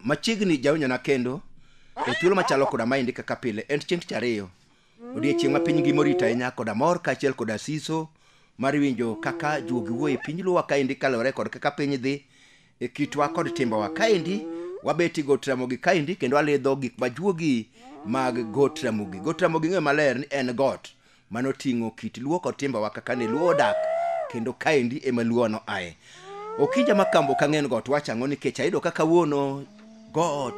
machiegni jawinjona kendo e thuolo machalo koda maendi kaka pile en chieng' tich ariyo odiechieng' ma piny ngima orito ahinya koda mor kaachiel koda siso mar winjo kaka juogi wuo e piny luwa kaendi kaluwore kod kaka piny dhi e kitwa kod timbewa kaendi wabeti got ramogi kaendi kendo walidho gik ma juogi mag got ramogi got ramogi ng'eyo maler ni en got mano ting'o kit luo kod timbewa kaka ne luo odak kendo kaendi ema luono aye okinja ma kambo ka ng'en got wachang'o nikech ayudo kaka wuono got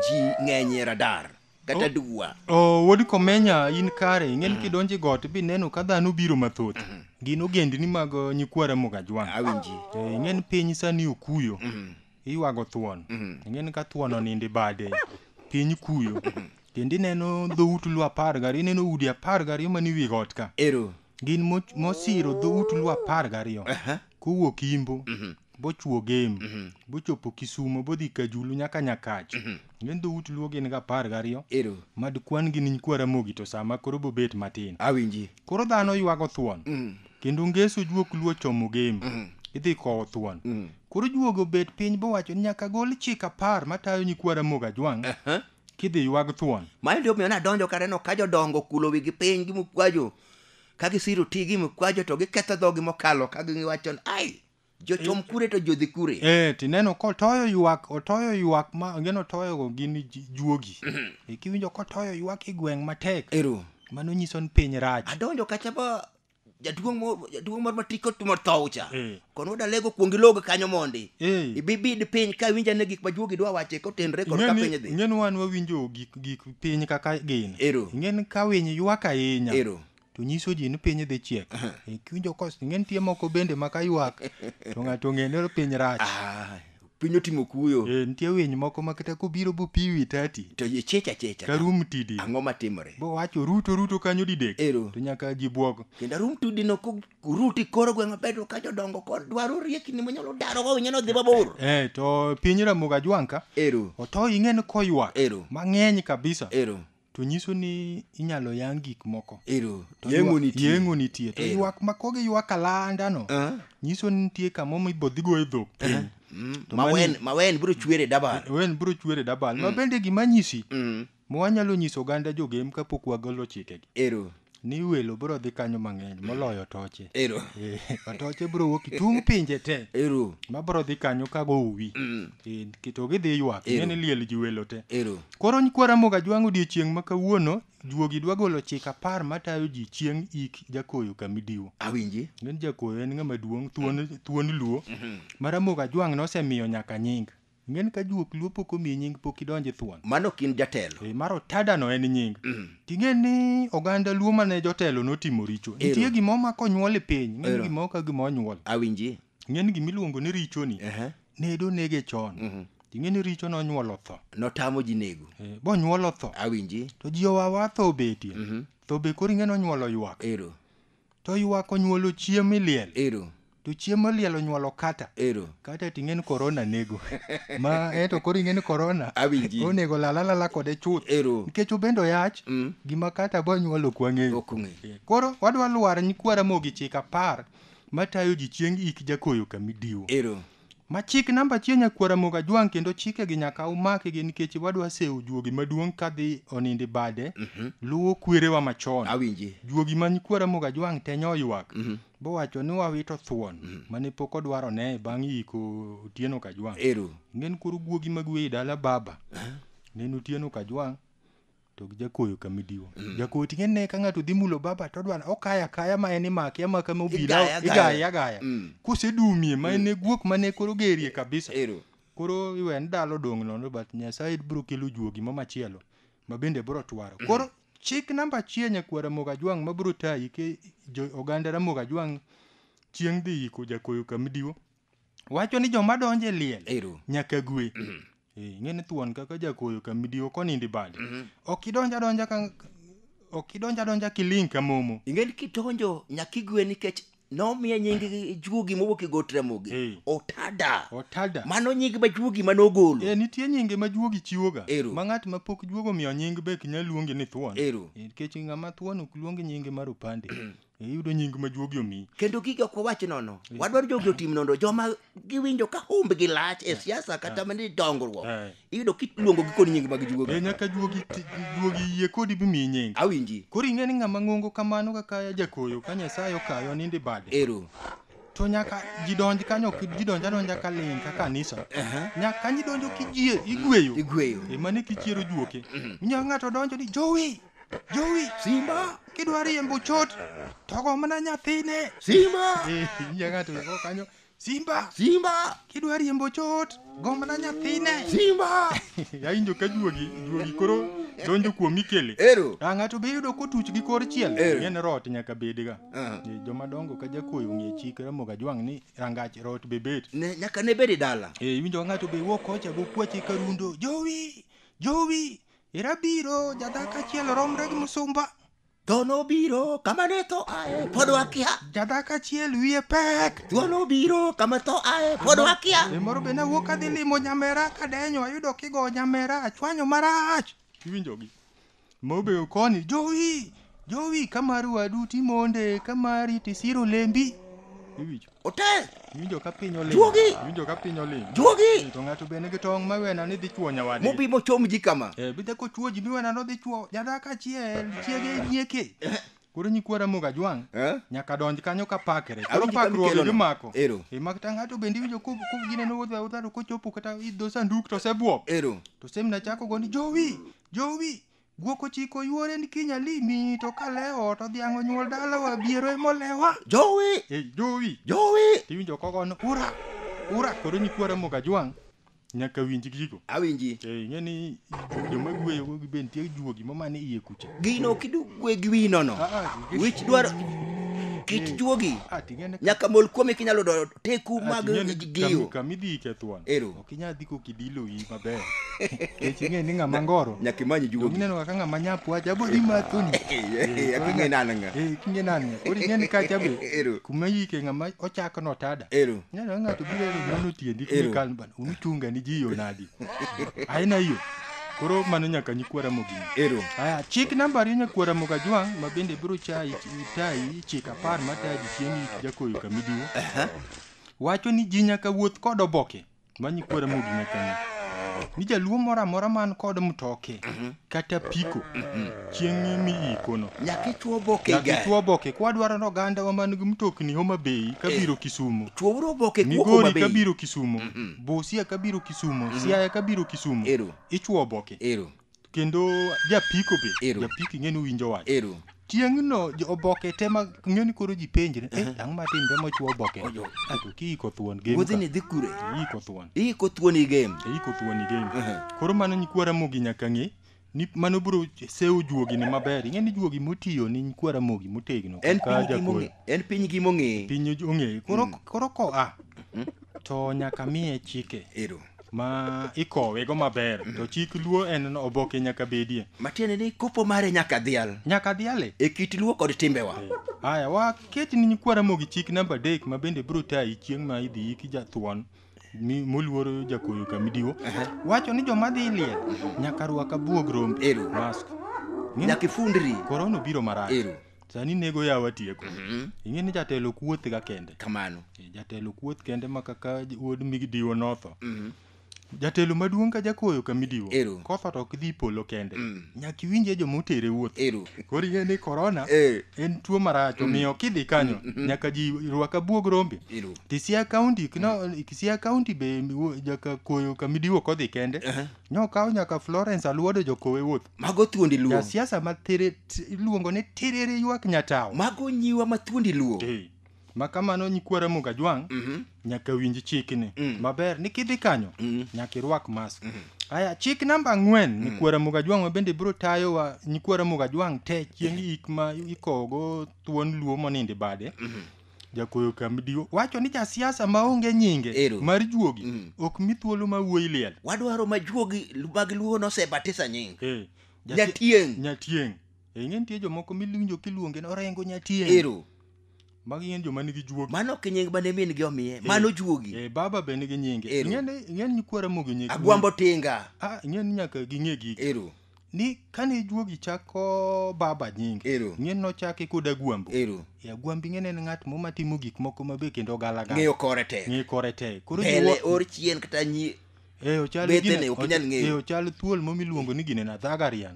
ji ng'enyie radar kata dwa Oh, wuod komenya in kare ing'eni kidonje got bineno ka dhano biro mathoth gin ogendni mag uh, nyikwa ramogi ajwang' awinji Eh, ing'eni piny sani okuyo iywago thuon ing'eni ka thuon oninde bade piny kuyo kendo ineno dhout lu apar gariyo ineno udi apar gariyo mani wi got ka ero gin mo- mosiro dhout luo apar gariyo Aha. kowuok imbo bochwo gem bochopo kisumo bodhi kajulu nyaka nyakach gin dhout luo gin ga apar gariyo Ero. mad kwan gi niny kwaramogi to sama koro bobet matin Awinji. koro dhano ywago thuon kendo ngeso juok luo chomo gem idhi kowo thuon koro juogo bet piny bowacho ni nyaka gol chik apar matayo nyikwara moga jwang' kidhi ywag thuon mano ndio miyo nadonjo kaneno ka jodongo okulo wigi piny gi mukwajo ka gisiro ti gi mukwajo to giketho dhogi mokalo ka giwacho ni, ai jochom kure to jodhi kure eh tineno kotoyo ywak otoyo ywak ma angeno toyogo gin ji- juogi Eh, kiwinjo kotoyo ywak e gweng' matek ero mano nyiso ni piny rach adonjo kacha ba jaduong' mo- jaduong' moro mati kotimo thoucha Eh. kono dalego kuong ilog kanyo mondi Eh. ibibid piny ka winja ne gik majuogi dwa wache kotenre kod ka piny dhi ing'eni wan wawinjo gik gik piny kaka gin Ero. ing'eni ka winy ywak ahinya Ero. to nyiso ji ni piny dhi chiek Eh, kiwinjo kos ing'eni tie moko bende ma ka ywak to ng'ato ong'e ni piny rach Ah, piny otimo kuyo Eh, nitie winy moko ma kata kobiro bopiwi tati to ichecha checha karum tidi ang'o matimore bowacho ruto ruto kanyo didek Ero. to nyaka ji bwok kendo arum tudi no kuruti koro gweng' maber to ka jodongo kod dwaro riekni monyalo daro go winyo nodhi mabor eh, to piny ramoga jwanka ero oto ing'e ni koywak Ero. mang'eny kabisa ero To nyiso ni inyalo yang gik moko. Ero, To yeng'o ywa- nitie. Yeng'o nitie. To Ero. ywak ma kogi ywak alanda no. Ah. Nyiso ni nitie kamo ma ibodhi go e dhok piny. Mm, To mawen mani- mawen biro chwere dabal Wen bro chwere dabal. Ma bende gima nyisi. Mm, ma wanyalo nyiso oganda jogem kapok wagolo chikegi. ero ni welo bro dhi kanyo mang'eny moloyo toche ero Eh, atoche bro wuok itung' pinje te ero ma bro dhi kanyo ka go uwi Mm. Eh, ki- to gidhi ywak Ero. ng'eni liel ji welo te ero koro nyikwa ramoga jwang' odiechieng' ma kawuono juogi dwa golo chik apar matayo ji chieng' ik jakoyo kamidiwo awinji ng'eni jakoyo en ng'ama duong' thuon, thuon luo ma ramoga jwang' nosemiyo nyaka nying Ng'en ka juok luo pok omiyi nying pok idonje thuon. Mano ok in jatelo. Ee, mar otada no en nying. Mm. Ting'e ni oganda luo mane jotelo notimo richo. Ero. Nitie gimo ma konyuol e piny, ng'en gimo ka gimo onyuol. Awinji. Ng'en gimi luongo ni richo ni. Uh -huh. Nedo nege chon. Uh mhm. -huh. Ting'e ni richo nonyuolo tho. Notamo ji nego. Ee, bonyuolo tho. Awinji. To ji owawa tho obetie. Uh mhm. -huh. Tho be kori ng'en onyuolo ywak. Ero. To ywak onyuolo chiem miliel. Ero. To chiem moliel onyuolo kata. Ero. Kata ting'en korona nego. Ma eto koro ing'en korona. Awinji. Onego lala lala kode chuth. Ero. Nikech obendo yach. Mm. Gima kata bo nyuolo ok wang'eyo. Ok ong'e. Koro wadwa lwar nyikwa Ramogi chik apar matayo ji chieng' ik jakoyo kamidiwo. Ero. Ma chik namba achiel nyakwar Ramogi Ajwang' kendo chike gi nyaka umaki gi nikech wadwa sewo juogi maduong' kadhi onindi bade luwo kwerewa machon. Awinji. Juogi ma nyikwa Ramogi Ajwang' te nyoywak bowacho ni wawito thuon mane pok odwar one bang' yiko Otieno Kajwang'. Ero. Nen koro guogi mag weyi dala baba. Nen Otieno Kajwang'. to gi jakoyo kamidiwa mm. jakoyo tinge ne ka ng'ato dhi mulo baba to odwar okaya kaya ma en imake amaka ma obila igaya agaya mm. kusedumie ma en mm. guok ma ne koro gerie kabisa Ero. koro iwe ndalo dong' nono but nyasaye biro kelo juogi ma machielo ma bende biro twaro mm. koro chik namba achiel nyakwar ramoga jwang' ma biro tayi ke oganda ramoga jwang' chieng' dhi yiko jakoyo kamidiwa wacho ni joma donjo e liel Ero. nyaka gwe Eh, ing'e ni thuon kaka jakoyo ka midiwo konindi bade ok idonja donja ka ok idonja donja kiling ka momo ing'e ni kidonjo nyaka igwe nikech nomiye nying juogi mowuok e got ramogi Eh. otada otada mano nying ma juogi mane ogolo Eh, nitie nyinge ma juogi chiwoga Ero. ma ng'at ma pok juogo miyo nying be ok nyal luonge ni thuon Ero. Eh, nikech ng'ama thuon ok luong nyinge mar opande iyudo nying ma juogi omi kendo gigi ok wawach nono wadwaro jogi otim nono joma giwinjo ka humbgi lach e siasa kata mani dongruok Eh. iyudo kiluongo gi kod nying mag e juogi nyaka juogi ti- juogi yie kodi bimiyi nying awinji koro ing'e ni ng'ama ng'ongo kamano kaka jakoyo ka nyasaye okayo nindi bade ero to nyaka jidonj kanyo ok jidonj adonja ka ling ka kanisa nyaka kanyo idonjo kijie igweyo igweyo emane kichiero juoke inyalo ng'ato donjo ni jowi Jowi, Simba, kidwa riembo chot, togo mana nyathine. Simba, Eh, nyinge ng'ato eko kanyo. Simba, Simba, kidwa riembo chot, go mana nyathine. Simba. Yawinjo ka juogi, juogi koro donjo kuom Mikele. Ero. Ah, ng'ato be yudo kotuch gi kor chiel. Ero. Ng'en rot nyaka bedga. Aha. Eh, Joma dongo ka jakoyo ng'e chik Ramogi Ajwang' ni rangach rot be bet. Ne nyaka ne bedi dala. Eh, iwinjo ka ng'ato be wuok kocha go kwache ka rundo. Jowi, jowi, Ira biro, jadak achiel romre gi musumba. Tho nobiro kama ne tho ae, pod wakia. Jadak achiel wiye pek. Tho nobiro kama tho ae, pod wakia. E moro be nawuok adhi limo nyamera kadenyo ayudo kigo nyamera achwanyo marach. Iwinjogi. Mobeyo koni, jowi, jowi kamar wadu timonde, kamari tisiro lembi. Iwinjo. Otel. Iwinjo ka piny oling. Juogi. Iwinjo ka piny oling. Juogi. Eh, to ng'ato bende gi tong' ma wena ni dhi chuo nyawadi. Mobi mochom ji kama. Eh, bidhe ko chuo ji mi wena no dhi chuo. Jada ka chiel, chiege nyieke. Eh. Koro nyikwara moga jwang'. Eh? Nyaka donj kanyo ka pakre. Koro pakruoge gi mako. Ero. E mak ta ng'ato bende iwinjo ko ko gine no wodha wodha ko chopo kata idho sanduk to se bwok. Ero. To semna chako go ni jowi. Jowi. Guok ochiko yuore ni kiny alimi to ka lewo to dhiang' onyuol dalawa biero emolewa. Jowi! Ei jowi! Jowi! Tiwinjo kogo ni ura! Ura! Koro nyikwara moga jwang' nyaka winj gigo. Awinji. Ei ng'e ni joma gweyo go gibe nitie juogi ma mane iye kucha. Gino kidu gwe gi wino no. Ah, ah, gi- Wich dwaro kit juogi. Ah, ting'e ne- Nyaka mol kuome kinyalo do teku Ah, mag ting'e ne- giyo. kami- Kami dhi ikethwan. Ero. Kinya dhi kokidilo iyi maber. Kech ing'e ni ng'ama ngoro. Nyaka imany juogi. Donge ineno kaka ng'ama nyapu wacha abo dhi mathoni. Eh, ak ing'e nani ng'a. Eh, ak ing'e nani ng'a. Koro ing'e ni kacha be. Ero. Kuma yike ng'ama ochako no tada. Ero. Ineno ng'ato biro ni nono tiendi Ero. kumi kan bana. Unuchunga ni ji yo nadi. Aina hiyo. Koro mano nyaka nyikwara mogini. Ero. Aya, chik namba ariyo nyakwara moga jwang' ma bende biro chayi tayi chik apar matayi chieng' jakoyo kamidiwo. wacho ni ji nyaka wuoth kod oboke manyi kuo Ramogi nyaka ng'e ni jaluo moro amora man kod mtoke kata piko chieng'e mi ikono Nyaka ichwo oboke nyaka igari. ichwo oboke kwa dwaro ni ogandawa man gi mtokni Homa Bay kabiro Kisumo Chwouru oboke kuok Homa Migori Bay. kabiro Kisumo Busia kabiro Kisumo Siaya kabiro Kisumo Ero. ichwo oboke Ero. kendo japiko be Ero. japiko ing'e ni winjo wach ero tieng'no jo- oboke te ma ing'e ni koro ji penjre eh, ang'o matimre mochwo oboke Ojo. ato kiiko thuon game wuodhi ni ka. dhi kure iiko thuon iiko thuon i game iiko thuon i game Ehe. koro mano nyikwara mogi nyaka ng'e ni mano biro sewo juogi ni maber ing'e ni juogi motiyo ni nyikwara mogi motegno en kaka piny gi jakoro. mong'e en piny gi mong'e piny ong'e koro koro koa to nyaka miye chike ero ma ikowe go maber mm. to chik luo en oboke nyaka bedie matiende ni kopo mare nyaka dhial nyaka dhiale e kit luo kod timbewa eh, haya waket ni nyikwara mogi chik namba adek ma bende biro tayi chieng' ma idhi yiki jathuon moluoro jakoyo kamidiwo wacho ni joma dhi liel nyaka rwaka buog rombe mask nyaka ifundri korona obiro marach sani nego yawa tieko Mhm. ing'e ni jatelo kuoth ga kende kamano Eh, jatelo kuoth kende ma kaka j- wuod midiwo notho Mhm. jatelo maduong' ka jakoyo ka midiwo Ero. kotho to ok dhi polo kende Mm. nyaka iwinje joma otere wuoth ero koro ing'e ni korona Eh. en tuo marach omiyo kidhi kanyo nyaka ji rwak abuog rombe ero Kisia County, kino, Kisia County be wo- jaka koyo kamidiwo kodhi kende. Nokawo nyaka Florence Aluodo jokowe wuoth. Mago thuondi luo. Ja siasa ma tere iluongo ni tiriri ywak nyatawo. Mago nyiwa ma thuondi luo. Hey. Ma kamano nyikwara Muga Jwang' mm -hmm. nyaka winj chikni mm. maber ni kidhi kanyo mm -hmm. nyaka irwak mask. Mm -hmm. Aya chik namba ang'wen mm. nyikwara Muga Jwang' mabende biro tayo wa nyikwara Muga Jwang' te chieng' ik ma ikogo thuon luo monindo bade. Mm -hmm. jakuoyo kamdiwo wacho ni jasiasa maonge nyinge Ero. mar juogi Mm. ok mi thuolo ma wuoyi liel wadwaro ma juogi mag luo nosebatisa nying Eh, jasi- Nyatieng'. nyatieng Eh, ing'e nitie jomoko miwinjo kiluonge ni orengo nyatieng ero magi ng'en joma nigi juogi mano ok nying mane min gi omiye mano juogi Eh, baba be nigi nyinge Ero. ing'e ni ing'e ni nyikwara mogi nying agwambo tinga Ah, ing'e ni nyaka ging'e gigi ero ni kane juogi chako baba nying Ero. ng'en nochake kod agwambo Ero. e agwambi ng'en en ng'at mo matimo gik moko mabe kendo galagala Ng'eyo kore tek. ng'eyo kore tek koro Pele jiwo- or chien kata nyi Eh, ochal Bethene, gine- ok inyal ng'eyo. eh, ochal thuol mo miluongo ni gine na dhagarian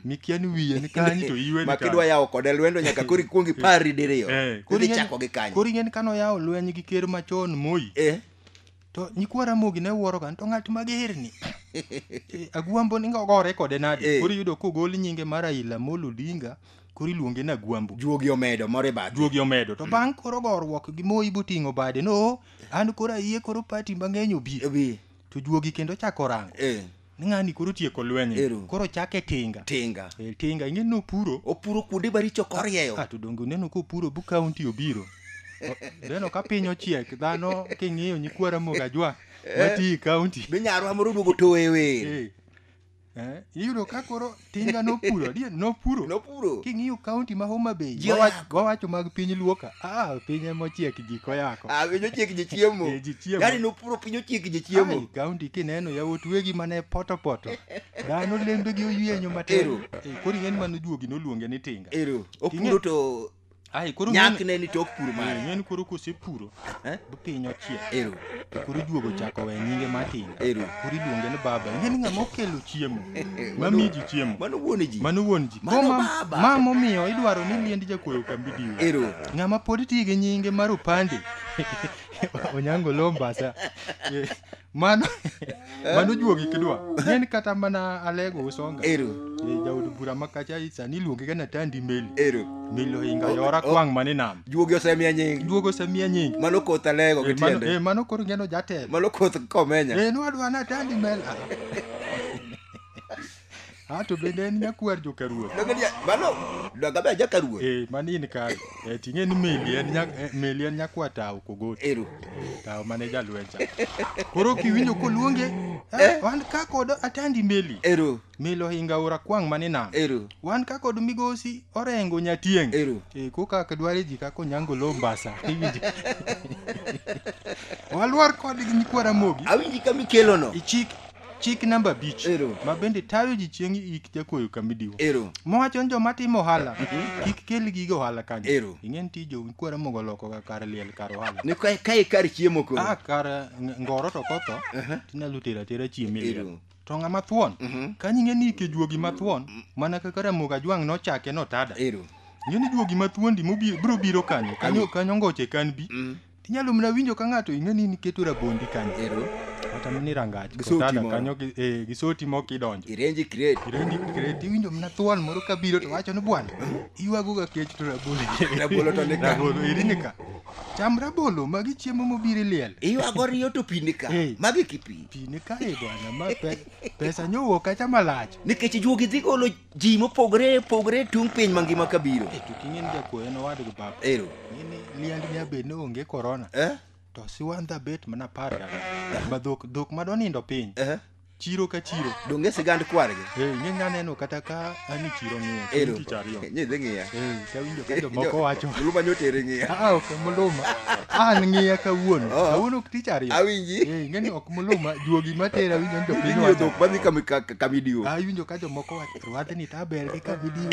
mikia ni wiye ni kanyi to iwe ni ma kidwa kanyo. yawo kode lwendo nyaka koro ikuong ipari diriyo. Eh, koro Koro ing'e ni- ichako gi kanyo. koro ing'e ni kano yawo lweny gi ker machon moi Eh. To nyikwa Ramogi ne wuoroga ni to ng'at magerni. Eh, Agwambo ni gore kode nade? Eh. Koro iyudo kogol nyinge mar Raila Amolo Odinga koro iluonge ni Agwambo. Juogi omedo moro e bathe. Juogi omedo. To bang' koro goruok gi Moi boting'o bade no an koro ayie koro pati mang'eny obi. Obi. To juogi kendo chako rango. Eh. ng'ani koro tieko lweny Ero. koro chake tinga tinga e, tinga ing'e ni opuro opuro kuonde maricho korieyo ah, to donge uneno kopuro bu kaunti obiro O- neno ka piny ochiek dhano king'iyo nyikwa ramogi ajwa mati kaunti be nyarwa moro oduogo towe wer Eh, eh, iyudo ka koro tinga nopuro adier nopuro nopuro king'iyo kaunti ma homa bay Ji wawach- oyako. wawacho mag piny luoka ah piny emochiek ji koyako Ah, piny ochiek ji chiemo Eh, ji chiemo. yani nopuro piny ochiek ji Ai, chiemo kaunti kineno yawuot wegi mane potopoto dhano lembegi oyienyo matin Ero. Eh, koro ing'eni mano juogi noluonge ni tinga ero King'e- opuro to Ai koro nyak ne ni tok pur mare. Nyen koro kose puro. Eh? Bu piny ochiek. Ero. To koro juogo chako we nyinge matin. Ero. Koro iluonge ni baba. Nyen ng'a mokelo chiemo. Mami ji chiemo. Mano wuon ji. Mano wuon ji. Mano baba. Ma momiyo idwaro ni liend jakoyo kambi diwe. Ero. Ng'a ma pod tiyo gi nyinge mar opande. Onyango lombasa. mano mano juogi kidwa en kata mana alego usonga ero Eh, jaod bura makacha sani iluonge ga natandi meli ero meli ohinga yora kwang' mane nam juogi osemiya nying juogo osemiya nying mano koth alego Eh, mano- gitiende eh, mano koro ngeno jatelo mano koth komenya Eh, nwadwa natandi meli Ah, Ah, to bende en nyakwar joka ruoth Donge dia- mano dongabe aja ka ruoth Eh, mano in kare Eh, ting'e ni meli en nya- eh, meli en nyakwa tawo kogoti ero tawo mane jalwenja koro kiwinjo koluonge eh, wan ka kod atandi meli ero meli ohinga ora kwang' mane nam ero wan ka kod migosi orengo nyatieng' Ero. Eh, ko kaka dware ji kaka onyango lo mbasa iwinjo walwar kodgi nyikwara mogi awinji kama ikelono ichik Chik namba abich Ero. ma bende tayo ji chieng' ik jakuoyo kamidiwo. Ero. Mowacho ni joma timo ohala kik kel gige ohala kanyo. Ero. Ing'e ni tij jokuora mogo loko ga kar liel kar ohala. Ni ka ka ikar chiemo koro. Ah, kar ng- ngoro to kotho Aha. tinyalo tero atera chiemo e liel. Ero. To ng'ama thuon Mhm. kanyo ing'e ni ike juogi mathuon mana kaka Ramogi Ajwang' nochake notada. Ero. Ing'e ni juogi mathuondi mobiro biro kanyo kanyo kanyo ngoche kan bi Mm. Inyalo mna winjo ka ng'ato ing'e ni niketo rabondi kanyo. Ero. Kata mini rangach. Gi soti Kotala moro. kanyo gi eh, gi soti moko idonjo. Irenji crate. Irenji crate iwinjo mna thuon moro ka biro to wacho ni bwana iywago ga kech to rabolo. Rabolo to ni ka. Rabolo eri ni ka. Cham rabolo magi chiemo mobiro iliel. Iywago riyo to pi ni ka. Eh. Magi kipi. Pi ni ka e bwana ma pe, pesa nyowuok kacha malach. Nikech juogi dhi golo ji mopogore opogore tung' piny mangima ka biro Eh, to king'eni jakuoyo en owadgi baba ero ng'eni liend ni abed ni onge korona eh? to siwandha bet mana par ma dhok dhok ma donindo piny Eh? chiro ka chiro donge sigand kwargi Eh, ing'e nya neno kata ka ani chiro ng'iyo ero chieng' tich ariyo nyidhi ng'iya Eh, tawinjo ka jomoko wacho luma nyotere ng'iya "Ah, ok muluma an ng'iya kawuono Oh. kawuono ok tich ariyo awinji Eh, ing'eni ok muluma juogi matera winjo ni jopiny inyiyo wacho dhok madhi kama ka video Ah, iwinjo ka jomoko wacho rwadhni ta ber gi ka video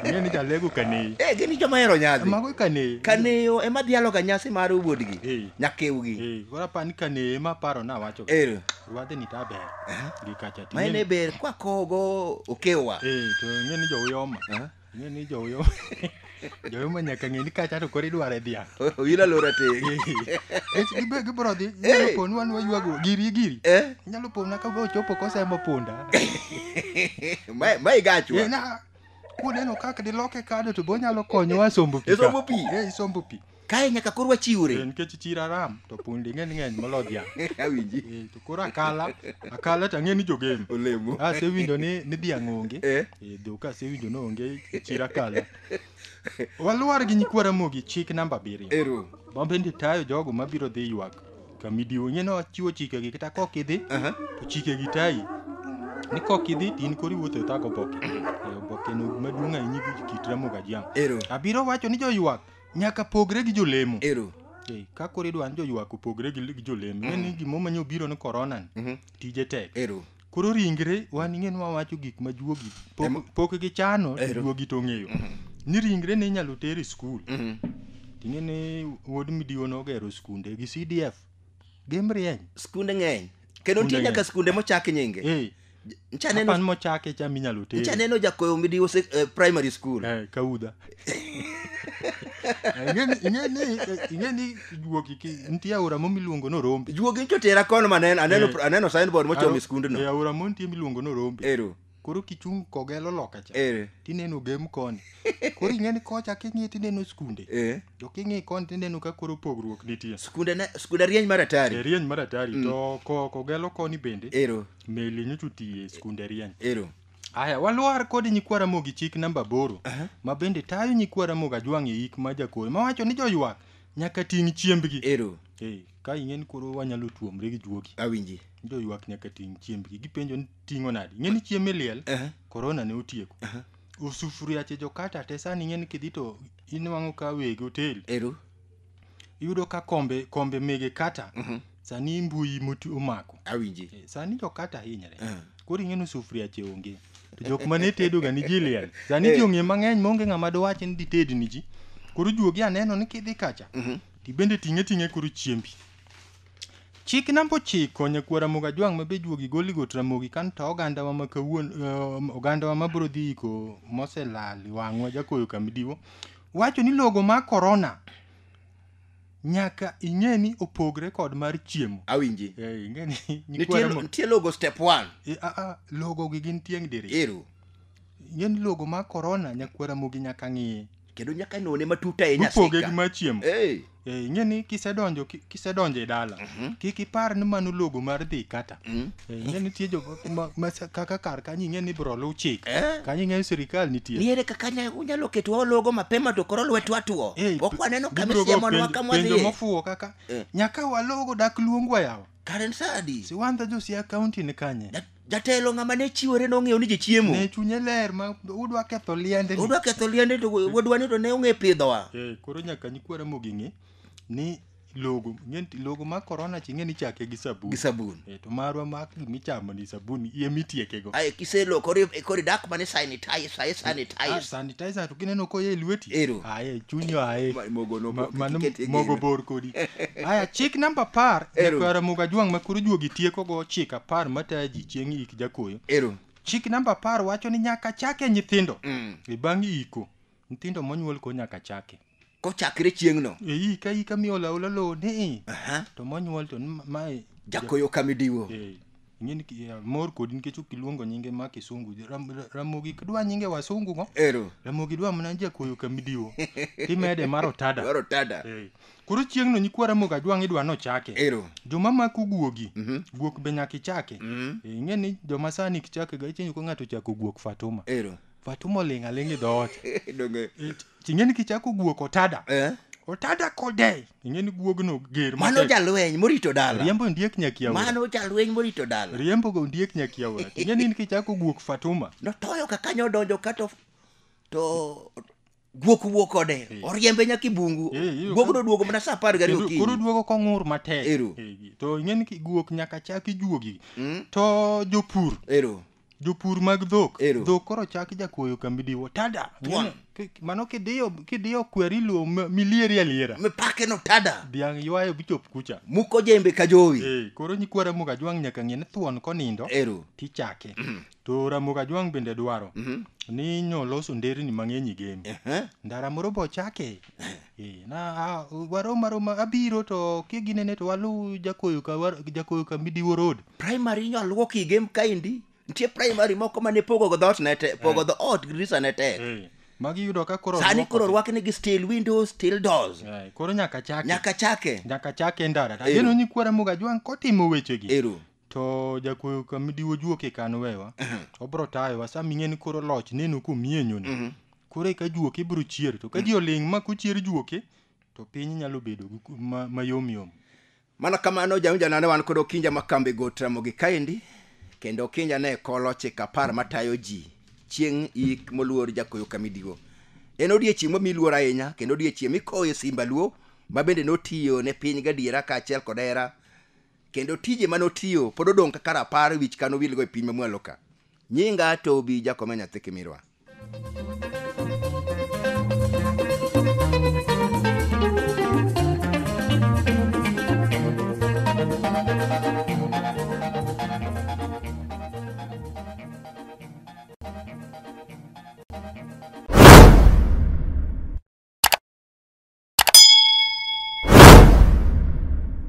ng'e ni jalego kaneyi eh gini joma hero nyadhi mago kaneyi kaneyo ema dhialoga nyasi mar wuodgi Eh. nyakewgi Eh, koro apa ni kaneyi ema paro na wacho ero rwadhni ta ber gi kacha to ma en e ing'e- ber kwakogo okewa eh to ing'e ni jouyoma Aha. Ng'e ni joyo joyo ma nyaka ng'e ni kacha to koro idware dhiang'. Ila lora te. Ech gibe gibro dhi nyalo Eh. ponu an waywago giri giri. Eh, Nyalo pona ka go chopo kosemo punda. ma ma igachwa. Eh, na kuneno kaka diloke kado to bonyalo konyowa sombo pi. ka. Isombo pi? Eh, isombo pi. kae nyaka koro wachiwre Eh, nikech chir aram to pundi ng'eny ng'eny molo dhiang' awinji Eh, to koro akala akala to ang'e ni jogem olemo asewinjo ni ni dhiang' onge Eh. Eh, dhok asewinjo ni onge chir akala walwar gi nyikwa ramogi chik namba abiriyo ero mabende tayo jogo mabiro dhi ywak kamidiwo ing'e ni wachiwo chikegi kata kok idhi Aha. to chikegi tayi ni kok idhi to in koro iwuotho e thago oboke Eh, obokeno maduong' ahinya gi kit ramogi ajiang' ero abiro wacho ni joywak nyaka pogre gi jolemo ero Ei, ka koro idwa ni joywak opogre gi gi jolemo ing'e ni gimo manyo biro ni korona ni Mhm. tije tek ero koro ringre wan ing'e ni wawacho gik ma juogi pok- Em- pok gichano to Ero. juogi to ong'eyo ni ringre ne inyalo ter e skul Mhm. ting'e ni wuod midiwo nogero skunde gi cdf gimrieny skunde ng'eny kendo nitie Skunde nyaka ng'eny. skunde mochak nyinge Eh, ncha neno Kapan mochake cha minyalo ncha tere. neno jakoyo midiwo sek- eh, primary school Eh, kaudha. Eh, ing'eni- ing'eni, eh, ing'eni juogi ki nitie aora mo miluongo ni Orombe. juogi ncho tera kono ma aneno aneno Eh. aneno signboard mochomo Aro- e skundno eh, aora mo nitie miluongo ni Orombe. ero Koro kichung' kogelo loka cha. ero tineno gem koni koro ing'eni kocha king'i tineno skunde eh to king'i koni tineno ka koro pogruok nitie skunde ne skunde rieny mar atari e rieny mar atari to ko- kogelo koni bende ero meli nyocha otiye e skunde rieny ero aya walwar kod nyikwa ramogi chik namba aboro ma bende tayo nyikwa ramogi ajwang' e ik ma jakoro mawacho ni joywak nyaka ting' chiembgi ero Eh, ka ing'e ni koro wanyalo tuomre gi juogi awinji joywak nyaka ting' chiembgi gipenjo ni ting'o nadi ing'e ni chiemb liel Aha. korona ne otieko Aha. osufuriache jokata te sani ing'e ni kidhi to inwang'o ka weg otel ero iyudo ka kombe kombe mege kata mhm. sani mbui moti omako awinji eh, sani jo kata hinyre eh. koro ing'e ni sufuria che onge to jok ma ne tedo ga ni jiliel sani eh. ji ong'e mang'eny maonge ng'ama dowach ni dited ni ji koro juogi aneno ni kidhi kacha mhm. tibende ting'e ting'e koro chiembi chik namba ochiko nyakwara moga jwang' ma be juogi goli got ramogi kan to ogandawa ma kawuon ogandawa ma biro dhi iko moselal wang'wa jakoyo kamidiwo wacho ni logo ma korona nyaka ing'e ni opogre kod mar chiemo awinji Eh, ing'e ni nitie nyikwara mo- nitie logo step 1 Eh, ah, ah, logo gi gin tieng' diri ero ing'e ni logo ma korona nyakwara mogi nyaka ng'iye kendo nyaka none matut ahinya mopoge gi sika mar chiemo Eh. Eh, ing'e ni kisedonjo ki- kisedonjo e dala kik ipar ni mano logo mar dhi kata Eh, ing'e nitie jo ma- ma- sa- kaka kar kanyo ing'e ni ibro luw chik Eh. kanyo ing'e ni sirikal nitie niere kaka nya- unyalo ketwa ologo mapema to koro lwetwa tuo Eh, ok waneno kama gibiro go isiemonwa penjo- kama penjo wadhiye mofuwo kaka Eh. nyaka walogo dak luongwa yawa karen sadi siwandha josia kaunti ni kanye Dat- Jatelo ng'ama ne chiwore nong'eyo ni ji chiemo. Ne chunye ler ma udwa ketho liende. ni. Udwa ketho liende to wadwa ni to ne ong'e pidhowa. Eh, koro nyaka nyikwa Ramogi ng'e ni logo ng'e ni logo ma korona chi ng'e ni chake gi sabun. Gi sabun. Eh, to marwa ma gimichamo ni sabun iye mitiekego. Aye kiselokori kori dak mane sanitize, aye sanitize. Ah, sanitizer to kineno koye e lweti Ero. aye chunyo aye Ma- mogo no- Ma- mano kiket e mogo gino. bor kodi aya chik namba apar Ero. jakwara moga jwang' ma koro juogi tiekogo chik apar mataya ji chieng' ik jakoyo ero chik namba apar wacho ni nyaka chake nyithindo Mm. e bang' iko nyithindo monyuol ko nyaka chake kochakre chieng'no eyi ka ika miolo aola lowo ni Aha. to monyuol to ni ma- mae jakoyo kamidiwo Eh, ing'e ni ki- eh, mor kodi nikech ok iluongo nyinge ma kisungu Ram- ra- ramogi kidwa nyinge wasungu go ero ramogi dwa mana jakoyo kamidiwo timede mar otada dwaro tada Eh, koro chieng'no nyikwa ramogi ajwang' idwa nochake ero joma mako guogi guok be nyaka ichake Mhm. Eh, ing'e ni joma sani kichake ga icheni ko ng'ato chako guok fatuma ero but umoling' aling' e dhoot Donge. It- ting'e ni kichako guok otada Eh? otada kodei ing'e ni guogno ger Mano matek. jalweny morito dala. riembo ondiek nyakiaora Mano jalweny morito dala. riembo go ondiek nyakiaora ting'e ni kichako guok fatuma Notoyo ka kanyo odonjo ka to to guok wuok kode Eh. oriembe nyaka i bungu Eh, iyudo guok ka- noduogo mana sa apar gariyo Kendo koro okinyi duogo kong'ur matek Ero. Eh, to ing'eni ki- guok nyaka chak ijuogi Mm, to jopur ero jopur mag dhok Ero. dhok koro chak jakuoyo kambi diwo tada Tuan. Ing'eni, ki- mano kidiyo kidiyo kweri luo m- milieri aliera mipake no tada dhiang' ywayo bichop kucha muko jembe ka jowi Eh, koro nyikwara muga jwang' nyaka ng'e ni thuon konindo ero tichake To Ramogi Ajwang' bende dwaro ni nyo loso nderni mang'eny e game. Ehe. Ndara moro bo chake. Eh, na a- warom aroma abiro to kiginene to waluw jakoyo ka war- jakoyo ka Midiwo Road. primary inyo aluok i game kaendi nitie primary moko mane pogo go dhoot ne te pogo dho ot grisa ne tek Eh, magi yudo ka koro sani rwako koro te. rwakni gi steel windows steel doors Eh, koro nyaka chake. nyaka chake Nyaka chake ndara. Ero. Ageno ni kwa Ramogi Ajwang' kotimo wechegi. ero to jakuoyo kama diwo juok e kan wewa obro tayowa sa ming'e ni koro loch neno komienyono koro eka juok ibro chier to ka ji oling' ma kochier juoke to piny nyalo bedo gi ku- ma- mayom yom mana kamano jaunjanane wan kod okinja ma kambi go tramogi kaendi kendo okinja ne kolo chik apar matayo ji chieng' ik moluor jakoyo kamidigo en odiechieng' mami luor ahinya kendo odiechieng' mikoye simba luo ma bende notiyo ne piny gadiera kaachiel kod hera Kendo tije mane otiyo pod odong' kaka rapar wich kano wilgo e piny mamwalo ka. Nyinga Tobi Jakome Nyathi Kimirwa.